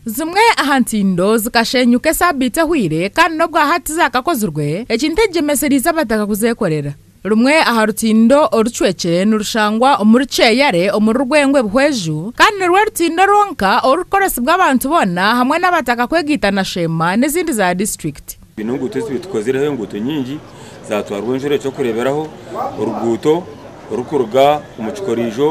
Zimwe aha ntindo zikasheenyuka esaabiiti ehweire kandi n'obwa hati zaakakozirwe, ekintu eki gyemesereize abataka kuzeekorera. Rumwe aha rutindo orucwekire nirushangwa omuri Kyeyare omuri Rwengwe Buhweju kandi nirwo rutindo rwonka orurikukoresibwa abantu boona hamwe n'abataka kwegaita na Sheema n'ezindi za disiturikiti. Twine enguuto ezi tukozireho enguuto nyingi zatwarwa enjura ekyokureeberaho oruguuto orurikuruga omu kikoriijo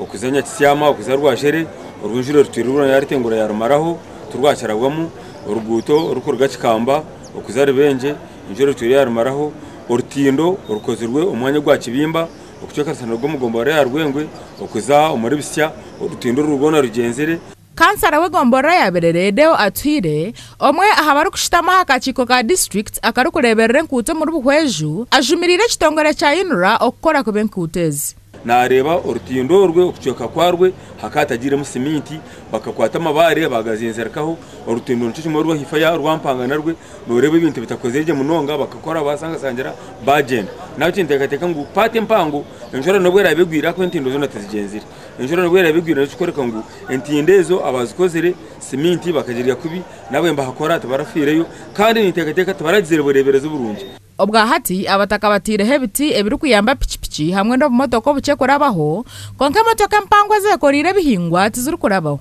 okuza Nyakityama okuza Rwashere oru enjura erutwire rwoona yaarutengura yaarumaraho tirwakirabwamu, oruguuto orurikuruga Kikamba okuza Rubengye enjura erutwire yaarumaraho, orutindo orukozirwe omu mwanya ogwa Kibimba okucwekanisa n'orw'omugombe oruraabe aha Rwengwe okuza omuri Bisya orutindo orwo rwoona rugyenzire. Kansara w'egombolola ya Birere Deo Atuhire, omwe aha barikushutama aha kakiiko ka disiturikiti akarikureeberera enkuuto omuri Buhweju, ajumiriire ekitongore kya UNRA okukora kubi enkuuto ezi. Naareeba orutindo orwe okucweka kwarwo haka hatagiiremu siminti, bakakwata amabaare baagazinzirikaho, orutindo nikyo kimwe orwo haifo ya Rwampanga narwo nooreeba ebintu bitakozire gye munonga, bakakora baasangasangira baagyenda. Nabyo kinteekateeka ngu paati empango enshwera n'obu eraabe egwire ahakuba entindo zoona tizigyenzire. Enjura nabwo eraba egwire nikyo kirikworeka ngu entindo ezo abaazikozire, siminti bakagirya kubi, nabo nibahakora tibarafiireyo kandi ninteekateeka tibaragizire bureeberezi burungi. Obwahati abataka bataireho ebiti ebirikuyamba piki piki hamwe n'obumotoka obukye kurabaho, kwonka emotoka empango ezeekoreire ebihingwa tizirikurabaho.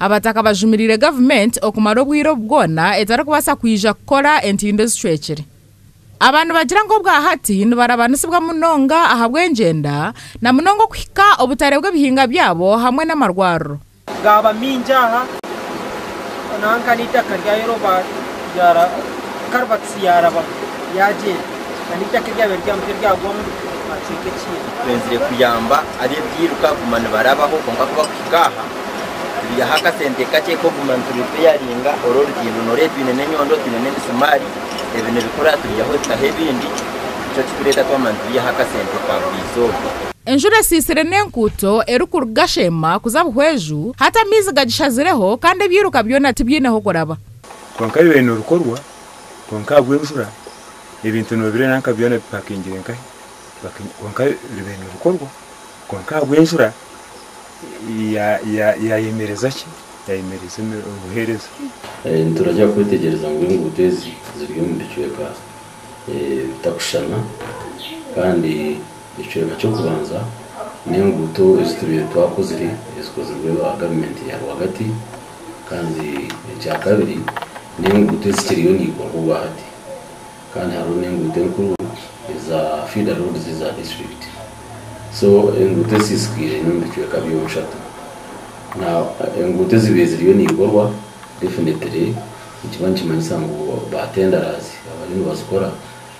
Abataka bajumiriire gavumenti okumara obwire obu bwona etarikubaasa kwija kukora entindo ezicwekire. Aba nibagira ngu obwahati nibarabanisibwa munonga ahabw'engyenda na munonga okuhika obutare bw'ebihinga byabo hamwe n'amarwariro. Gaaba maingi aha nanka n'eitaka ryayo ryoba ryara karibatisi yaaraba yaagyera, na n'eitaka eryabaire riri aha mutwe ryagwamu aha kicweka ekiina. Twenzire kuyamba ab'ebyiruka kuguma nibarabaho kwonka ku bakuhika aha. Turiihaho akasente kakye k'okuguma nituripeyaringa oru orutindo nooreeba twine n'enyondo twine n'emisumaari ebi nibikora turiihaho ebitaho ebindi nikyo kikureeta twamanya nituriihaho akasente ka buri izooba. Enjura esiisire n'enkuuto erikuruga Sheema kuza Buhweju, hati amaizi gagishazireho kandi ebiiruka byona tibiine ahu kuraba. Kwonka bibaire nibikorwa kwonka ahabw'enjura ebintu noobireeba nka byona bipakingire nkahi kwonka bibaire nibikorwa kwonka ahabw'enjura. yaayemereza ki? Yaayemereza obuheereza. Nituragira kwetegyereza ngu enguuto ezi ziri omu bicweka bitakushushana. Kandi ekicweka ky'okubanza n'enguuto ezi turiyo twakozire ezikozirwe ba gavumenti ya rwagati. Kandi ekyakabiri n'enguuto ezikiriyo nizikorwa obwahati. Kandi hariho n'enguuto enkuru eza feeder roads eza disiturikiti. So enguuto ezisiisikaire haine omu bicweka byona bishatu. Now enguuto ezibaire ziriyo nizikorwa definitely nikiba nikimanyisa ngu ba tenderers abariyo nibazikora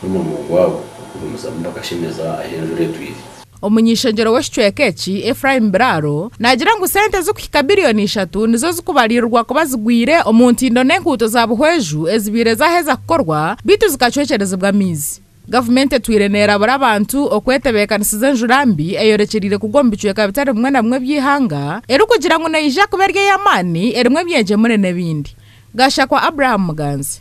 n'omurimo gwabo okugumizamu bakashemeza ahu enjura etwiire. Omuny'ishengyero w'ekicweka eki, Ephraim Biraro, naagira ngu sente ezirikuhika biliyoni ishatu nizo zirikubariirirwa kuba zigwire omu ntindo n'enkuuto za Buhweju ezibaire zaaheza kukorwa beitu zikacwekyerezibwa amaizi. Gavumenti etwire neerabura abantu okwetebeekanisiza enjura mbi eyorekyereire kugwa omu bicweka bitari bimwe na bimwe by'eihanga erikugira ngu neija kuba eri ey'amaani, erimu ebyengyemure n'ebindi. Gashakwa Abraham Muganzi.